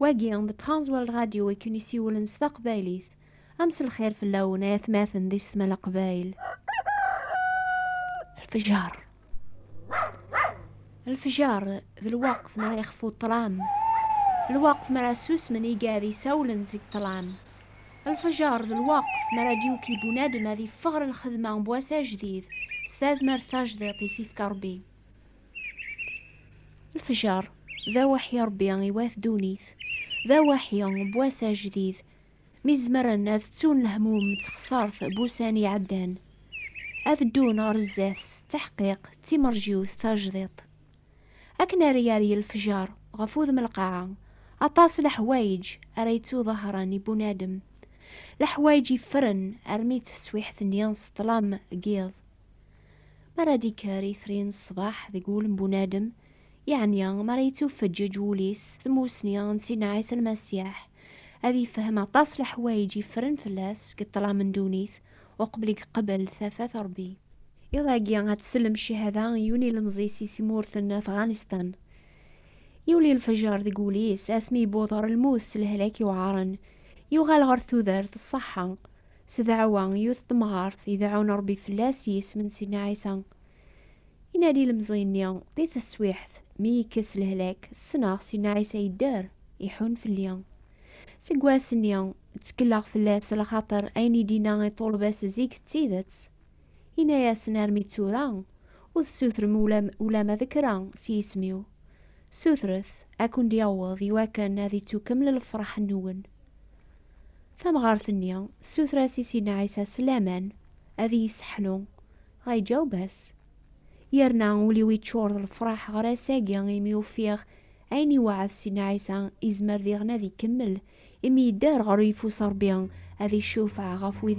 Wagi, d Trans World Radio i ken-isiwlen s taqbaylit. A mselxir fell-awen ay atmaten d isetma leqbayel. Lfejer. Lfejer, d lweqt mi ara yexfu ṭṭlam. Lweqt mi ara susmen igad isawlen seg ṭṭlam. Lfejer, d lweqt mi ara d-yuki bunadem ad iffeɣ ɣer lxedma n wass ajdid s tazmert tajdiṭ i s-ifka Rebbi. Lefjer, d awaḥi Ṛebbi i wat ddunit, d awaḥi n wass ajdid, mi zemren ad ttun lehmum d texṣert n wussan iɛeddan, ad ddun ɣer zdat s tteḥqiq d timerjiwt tajdiṭ. Akken ara yerr lefjer ɣef wudem lqaɛa, aṭas n leḥwayeǧ ara yettuḍahṛen i bunadem, leḥwayeǧ yeffren armi d taswiḥt-nni s ṭṭlam n yiḍ. Mi ara d-ikker itri n ṣṣbeḥ deg wul n bunadem, yeɛni mi ara yettufeǧǧeǧ wul-is s tmussni n Sidna Ɛisa Lmasiḥ, ad yefhem aṭas n leḥwayeǧ yeffren fell-as deg ṭṭlam n ddunit uqbel i yeqbel tafat n Ṛebbi. Iḍ-agi ad tsellem cchada i yiwen ilemẓi si tmurt n Afɣanistan. Yuli lfeǧer deg wul-is asmi yewweḍ ɣer lmut s lehlak yuɛren, yuɣal ɣer tudert, ṣṣeḥḥa, S ddeɛwa, yiwet temɣart i deɛɛun Ṛebbi fell-as s yisem n Sidna Ɛisa. I nadi ilemẓi-nni, di teswiḥt, mi yekkes lehlak, ssneɣ Sidna Ɛisa yedder, iḥun fell-i. Seg wass-nni, ttekleɣ fell-as, lxaṭer ayen i d-inna i ṭṭulba-s zik d tidet. Inna-yasen, Armi d tura, ur tessutrem ulamma d kra s yisem-iw. Ssutret, a ken-d-yaweḍ, i wakken ad ittukkeml lefṛaḥ-nwen. Tamɣart-nni tessuter-as i Sidna Ɛisa s laman ad iyi-sseḥnu, dɣa yeǧaweb-as, Yerna ul-iw yeččur d lefraḥ ɣer ass-agi imi ufiɣ ayen iweɛɛed Sidna Ɛisa yezmer diɣen ad ikemmel, imi yedder ɣer uyeffus Ṛebbi ad iccufeɛ ɣef wid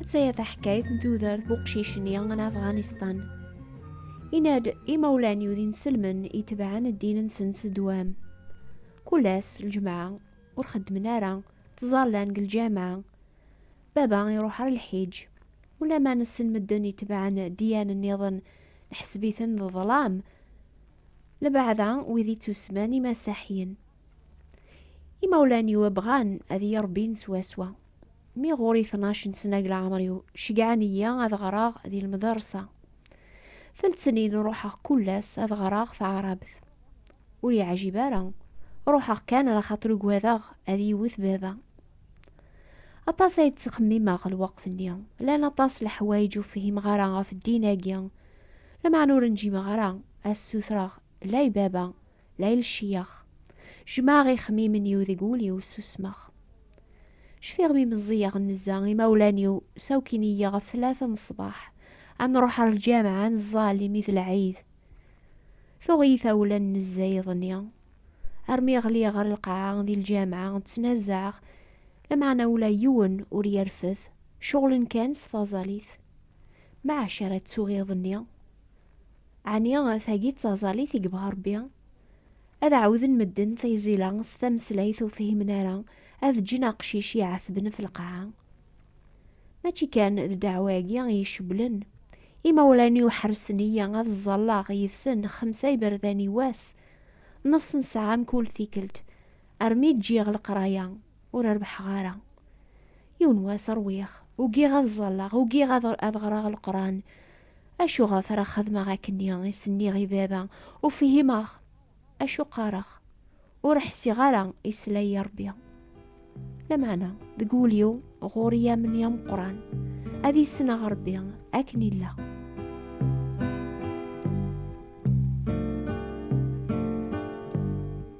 Atta-ya taḥkayt n tudert bu qcic-nni n Afɣanistan. Yenna-d, Imawlan-iw d inselmen itebɛen ddin-nsen s ddwam. Kul ass, lǧemɛa, ur xeddmen ara, ttẓallan deg lǧameɛ. Baba iruḥ ɣer lḥiǧ. Ulamma nessen medden itebɛen ddiyan-nniḍen, neḥseb-iten d ḍlam, labeɛda wid ittusemman Imasaḥyen. Imawlan-iw bɣan ad iyi-rebbin swaswa, Mi ɣur-i tnac n snag leɛmer-iw, ceggɛen-iyi ad ɣreɣ di lmdersa. Tletnin ruḥeɣ kull ass ad ɣreɣ taɛrabt. Ur yeɛjib ara, ruḥeɣ kan ala xaṭer ugadeɣ ad iyi-wet baba. Aṭas ay d-ttxemmimeɣ lweqt-nni, llan aṭas leḥwayeǧ ur fhimeɣ ara ɣef ddin-agi, lameɛna ur njimeɣ ara ad ssutreɣ la i baba, la il-ceyyax Jmeɛ ixemmimen-iw deg wul-iw ssusmeɣ Cfiɣ mi meẓẓiyeɣ nezza imawlan-iw Sawkin-iyi ɣef tlata n ṣṣbeḥ Ad nruḥ ar lǧameɛ ad neẓẓal imi d lɛid Tuɣ-iyi tawla n nezza iḍ-nni Armi ɣliɣ ɣer lqaɛa di lǧameɛ Ttnazaɛeɣ lameɛna ula yiwen ur yerfed Ceɣlen kan s taẓalit Meɛac ara ttuɣ iḍ-nni Ɛni tagi d taẓallit i yebɣa Rebbi? Ad ɛawden medden tayzila s tameslayt ur fhimen ara, ad ǧǧen aqcic iɛetben f lqaɛa. Mačči kan d ddeɛwa-agi i yi-cewwlen. Imawlan-iw ḥersen-iyi ad ẓẓalleɣ yid-sen xemsa iberdan i wass, nnefṣ n ssaɛa mkul tikkelt, armi ǧǧiɣ leqraya, ur rebḥeɣ ara. Yiwen wass rwiɣ, ugiɣ ad ẓalleɣ, ugiɣ ad ɣreɣ leqran. Acuɣef ara xedmeɣ akkenni i s-nniɣ i baba? Ur fhimeɣ acu qqareɣ. Ur ḥsiɣ ara yesla-yi Rebbi. Lameɛna, deg wul-iw ɣur-i amni ameqqran ad issneɣ Rebbi akken yella.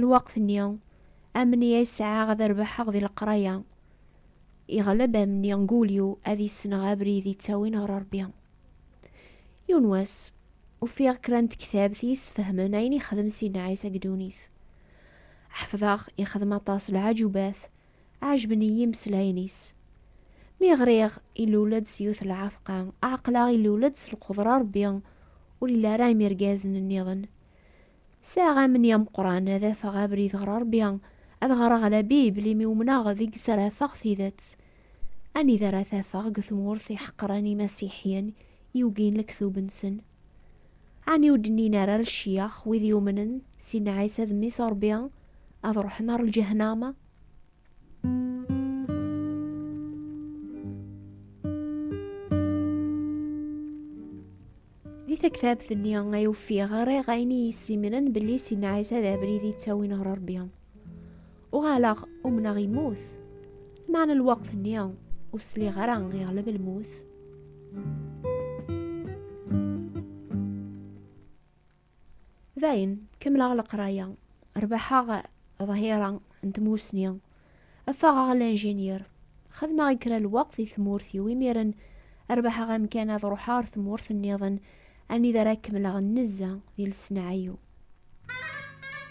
Lweqt-nni, amni ay sɛiɣ ad rebḥeɣ di leqraya, yeɣleb amni n wul-iw ad yesneɣ abrid yettawin ɣer Rebbi. Yiwen wass, ufiɣ kra n tektabt i yessefhmen ayen yexdem Sidna Ɛisa deg ddunit. Ḥefḍeɣ yexdem aṭas lɛajubat, ɛejben-iyi imeslayen-is. Mi ɣriɣ ilul-d s yiwet n lɛatqa, ɛeqleɣ ilul-d s lqudra n Rebbi, ur yelli ara am yirgazen nniḍen. Sɛiɣ amni ameqqran ad afeɣ abrid ɣer Ṛebbi, ad ɣreɣ la Bible imi umneɣ deg-s ara afeɣ tidet. Anida ara t-afeɣ deg tmurt i ḥeqren imasiḥyen, i ugin lektub-nsen? Ɛni ur d-nnin ara lecyax wid yumnen Sidna Ɛisa d Mmi-s n Ṛebbi ad ṛuḥen ɣer lǧehnama? Di taktabt-nni ay ufiɣ ɣriɣ ayen i yessimren belli Sidna Ɛisa d abrid i ttawin ɣer Rebbi. Uɣaleɣ umneɣ yemmut. Meɛna lweqt-nni ur sliɣ ara yeɣleb lmut. Dayen, kemmleɣ leqraya, rbaḥeɣ ḍhira n tmusni, affaɣeɣ a l'ingénieur. Xedmeɣ i kra lweqt di tmurt-iw, imiren rbaḥeɣ amkan ad ruḥeɣ ar tmurt nniḍen anida ara kemmleɣ nnezza di leṣneɛ-iw.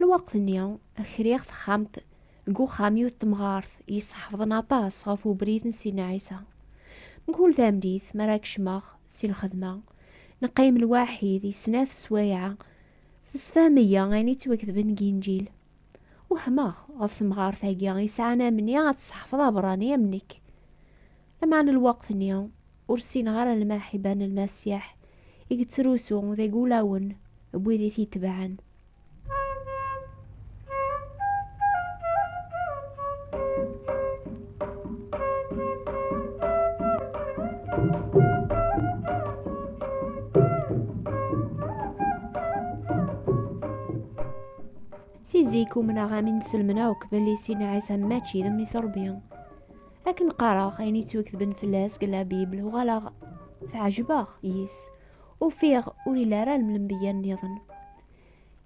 Lweqt-nni, kriɣ texxamt deg uxxam yiwet temɣart yesḥefḍen aṭas ɣef ubrid n Sidna Ɛisa. Mkul tamdit mi ara kecmeɣ si lxedma, neqqim lwaḥid i snat sswayeɛ, tessefhem-iyi ayen yettwaketben deg Inǧil. Wehmeɣ ɣef temɣart-agi yesɛan amni ad tesḥefḍ aberrani am nekk. Lameɛna n lweqt-nni, ur ssineɣ ara lmaḥiba n Lmasiḥ i yettrusu deg wulawen n wid i t-itebɛen. Si zik umneɣ amin selmen akk belli Sidna Ɛisa mačči d mmi-s Rebbi. Akken qqareɣ ayen yettweketben fell-as deg la Bible, uɣaleɣ tɛejbeɣ yis. Ufiɣ ur yelli ara lemlenbeyya nniḍen.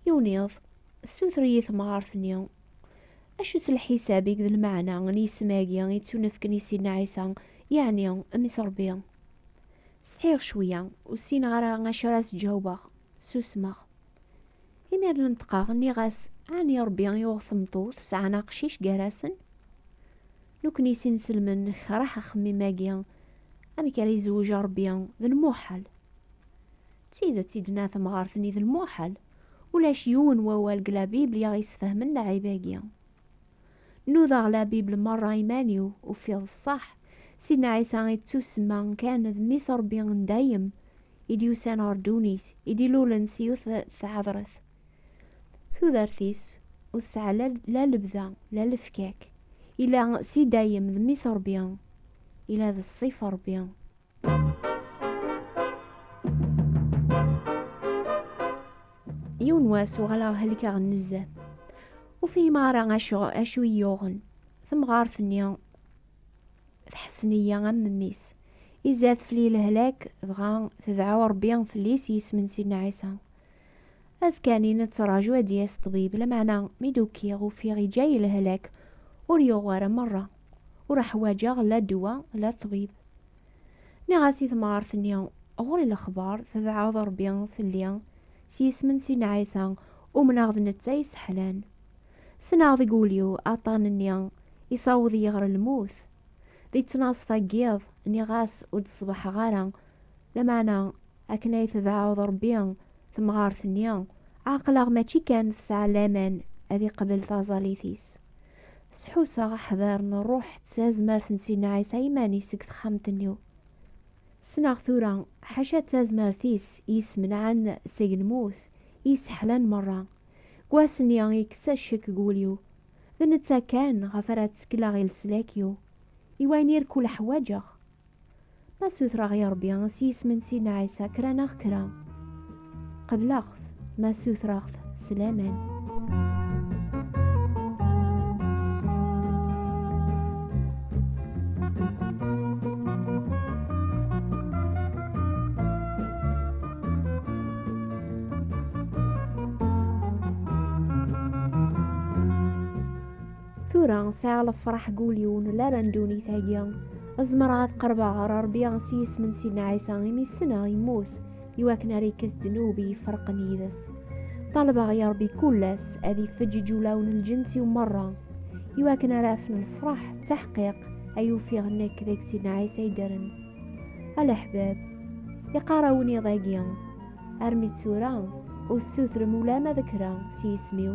Yiwen iḍ, tessuter-iyi temɣart-nni, Acu s lḥisab i d lmeɛna n yisem-agi i ttunefken i Sidna Ɛisa, yeɛni Mmi-s Rebbi? Setḥiɣ cwiya, ur ssineɣ ara acu ara s-ǧawbeɣ. Susmeɣ. Imiren neṭqeɣ, nniɣ-as, Ɛni Ṛebbi yuɣ temṭu tesɛan aqcic gar-asen? Nukni s inselmen nekreh axemmim-agi, amek ara izewwej Ṛebbi, d lmuḥal. D tidet i d-tenna temɣart-nni d lmuḥal, ulac yiwen wawal deg La Bible i aɣ-yesfehmen lɛib-agi. Nudaɣ labib lmerra iman-iw, ufiɣ d ṣṣeḥ, Sidna Ɛisa i d-tusemma kan d Mmi-s Ṛebbi n dayem, i d-yusan ɣer ddunit, i d-ilulen s yiwet tɛedṛet. Tudert-is ur tesɛa la lebda, la lefkak. Ila s i dayem d Mmi-s Ṛebbi, ila d ṣṣif Ṛebbi. yiwen wass uɣaleɣ helkeɣ nezzeh ur fihim ara acu acu yuɣen temɣart-nni tḥessen-iyi am mmi-s izad fell-i lehlak dɣa tedɛu rebbi fell-i s yisem n sidna ɛisa azekka-nni nettraǧu ad d-yas ṭṭbib lameɛna mi d-ukiɣ ufiɣ iǧǧa-yi lehlak ur yuɣ ara merra ur ḥwaǧeɣ la ddwa la ṭṭbib Niɣ-as i temɣart-nni, ɣur-i lexbar, tebɛeḍ Rebbi fell-i, s yisem n Sidna Ɛisa, umneɣ d netta yesseḥlan. Ssneɣ deg wul-iw aṭṭan-nni isaweḍ-iyi ɣer lmut. Di ttnaṣfa n yiḍ, niɣ-as ur d-ṣbeḥeɣ ara, lameɛna akken ay tebɛeḍ Rebbi temɣart-nni, ɛeqleɣ mačči kan tesɛa laman ad iqbel taẓallit-is, S ḥusseɣ aḥdar n ṛṛuḥ d tazmert n Sidna Ɛisa iman-is deg texxamt-nni. Ssneɣ tura, ḥaca d tazmert-is i yesmenɛen seg lmut, i yesseḥlan meṛṛa. Deg wass-nni, yekkes-a ccek deg wul-iw. D netta kan ɣef ara ttekleɣ i leslak-iw, i wayen irkul ḥwaǧeɣ. Ma sutreɣ i Ṛebbi s yisem n Sidna Ɛisa kra neɣ kra, qebleɣ-t, ma sutreɣ-t s laman. Tura sɛiɣ lefraḥ deg ul-iw n lala n ddunit-agi. Zemreɣ ad qerbeɣ ɣer Rebbi s yisem n Sidna Ɛisa imi ssneɣ yemmut i wakken ara ikkes ddnub i iferqen yid-s. Ṭalbeɣ i Rebbi kul ass ad ifeǧǧ iǧulaw n lǧens-iw merra i wakken ara afen lefraḥ d taḥqiq ay ufiɣ nekk deg Sidna Ɛisa ay ddren. A leḥbab, iqqar awennid-agi, Armi d tura, ur tessutrem ulama d kra s yisem-iw.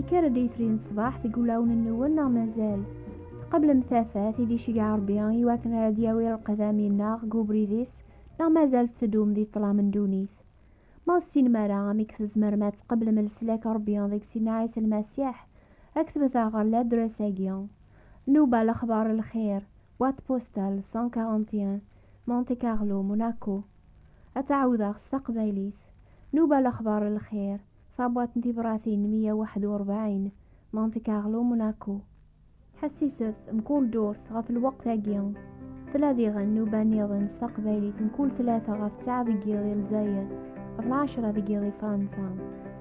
Ikar-d yitri n ṣṣbaḥ deg wulawen-nwen neɣ mazal? Tqeblem tafat i d-iceggeɛ Ṛebbi i wakken ara d-yawi lqedam inneɣ deg ubrid-is neɣ mazal tetteddum di ṭṭlam n ddunit? Ma ur tessinem ara amek tzemrem ad tqeblem leslak n Ṛebbi deg Sidna Ɛisa Lmasiḥ, ad k-tebteɣ ɣer ladres-agi. Nnuba Lexbar n lxir, Boîte postale 141, Monte Carlo, Monaco, ad tt-ɛawdeɣ s taqbaylit, Nuba Lexbar Lxir, tabwaṭ n tibratin meyya waḥed u rebɛin, Monte Carlo, Monaco. Ḥessiset, mkul ddurt, ɣef lweqt-agi, tella diɣen nuba nniḍen s taqbaylit mkul tlata ɣef ttɛa deg yiḍ i Lezzayer, ɣef lɛecra deg yiḍ i Fransa.